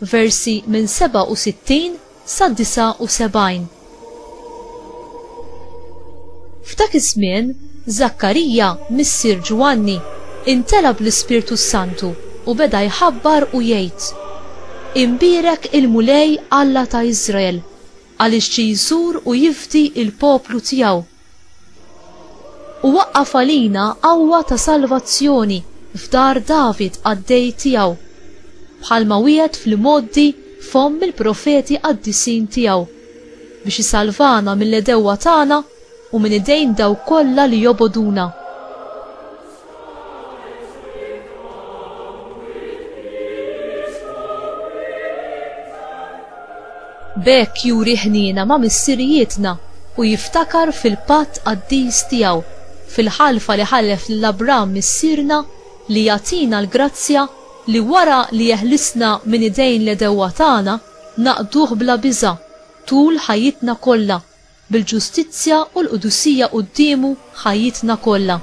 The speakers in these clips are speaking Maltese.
versi minn 67 sa 79. F'dak iż-żmien, Żakkarija, missier Ġwanni, imtela' bl-Ispirtu s-Santu u beda jħabbar u jgħid, Imbierek il-Mulej Alla ta' Iżrael, għaliex ġie jżur u jifdi l-poplu tiegħu, U waqqaf għalina qawwa ta' salvazzjoni f'dar David qaddej tiegħu, bħalma wiegħed fl-imgħoddi f'fomm il-profeti qaddisin tiegħu, biex isalvana mill-għedewwa tagħna u minn idejn dawk kollha li jobogħduna. B'hekk juri ħniena ma' missirijietna u jiftakar fil-patt qaddis tiegħu, fil-ħalfa li ħalef lil Abraham missierna li jagħtina l-grazzja li wara li jeħlisna minn idejn l-għedewwa tagħna naqduh bla biża' tul ħajjitna kollha bil-ġustizzja u l-qdusija quddiemu ħajjitna kollha.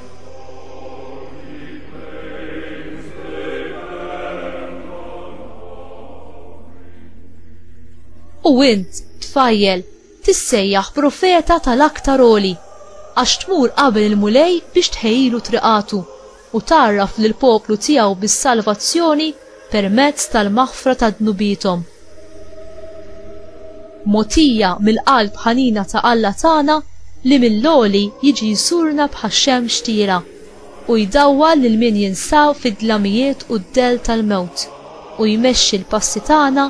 U int, tfajjel, tissejjaħ profeta tal-Aktar Għoli, għax tmur qabel il-Mulej biex tħejjilu triqatu, u tgħarraf lill-poplu tiegħu bis-salvazzjoni permezz tal-maħfra ta' dnubiethom. Mogħtija mill-qalb ħanina ta' Alla tagħna li mill-għoli jiġi jżurna bħax-xemx tira u jdawwal lil min jinsab fid-dlamijiet u d-dell tal-mewt u jmexxi l-passi tagħna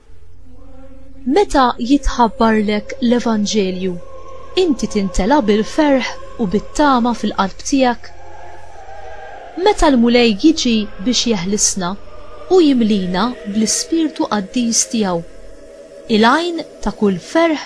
Meta jitħabbarlek l-Evanġelju, inti tintela' bil-ferħ u bit-tama fil-qalb tiegħek? Meta l-Mulej jiġi biex jeħlisna, hu jimlina bl-ispirtu qaddis tiegħu, il-għajn ta' kull ferħ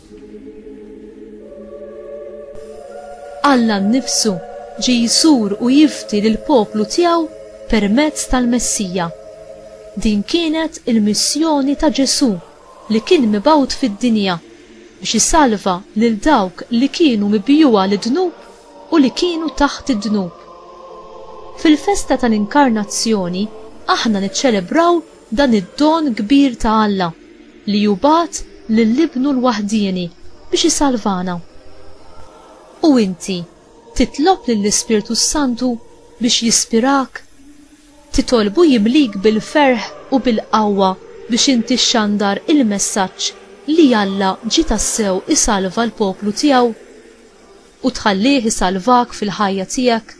Alla nnifsu ġie jsur u jifdi lill-poplu tiegħu permezz tal-Messija. Din kienet il-missjoni ta' Ġesù li kien mibgħut fid-dinja biex isalva lil dawk li kienu mibjugħa lid-dnub u li kienu taħt id-dnub. Fil-festa tal-Inkarnazzjoni aħna niċċelebraw dan id-don kbir ta' Alla li hu bagħat lil Ibnu l-waħdieni biex isalvana. U inti titlob lill-Ispirtu s-Santu biex jispirak? Titolbu jimlik bil-ferħ u bil-qawwa biex inti xxandar il-messaġġ li Alla ġie tassew isalva l-poplu tiegħu? U tħallih isalvak fil-ħajja tiegħek?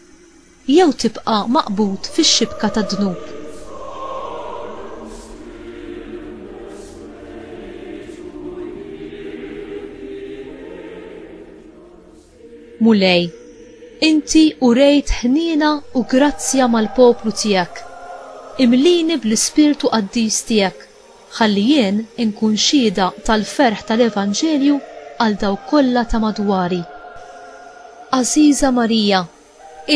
Jew tibqa' maqbud fix-xibka tad-dnub. Mulej, inti urejt ħniena u grazzja mal-poplu tiegħek. Imlini bl-ispirtu qaddis tiegħek, ħalli jien inkun xhieda tal-ferħ tal-evanġelju għal dawk kollha ta' madwari. Għażiża Marija,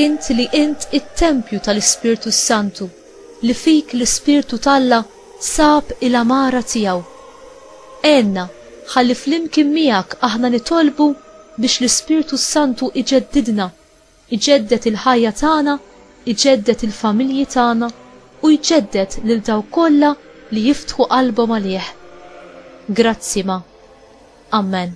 Int li int it-tempju tal-Ispirtu s-Santu, li fik l-Ispirtu t'Alla sab il-għamara tiegħu. Għenna ħalli flimkien miegħek aħna nitolbu biex l-Ispirtu s-Santu jġeddidna, jġedded il-ħajja tagħna, jġedded il-familji tagħna u jġedded lil dawk kollha li jiftħu qalbhom għalih. Grazzi ma. Amen.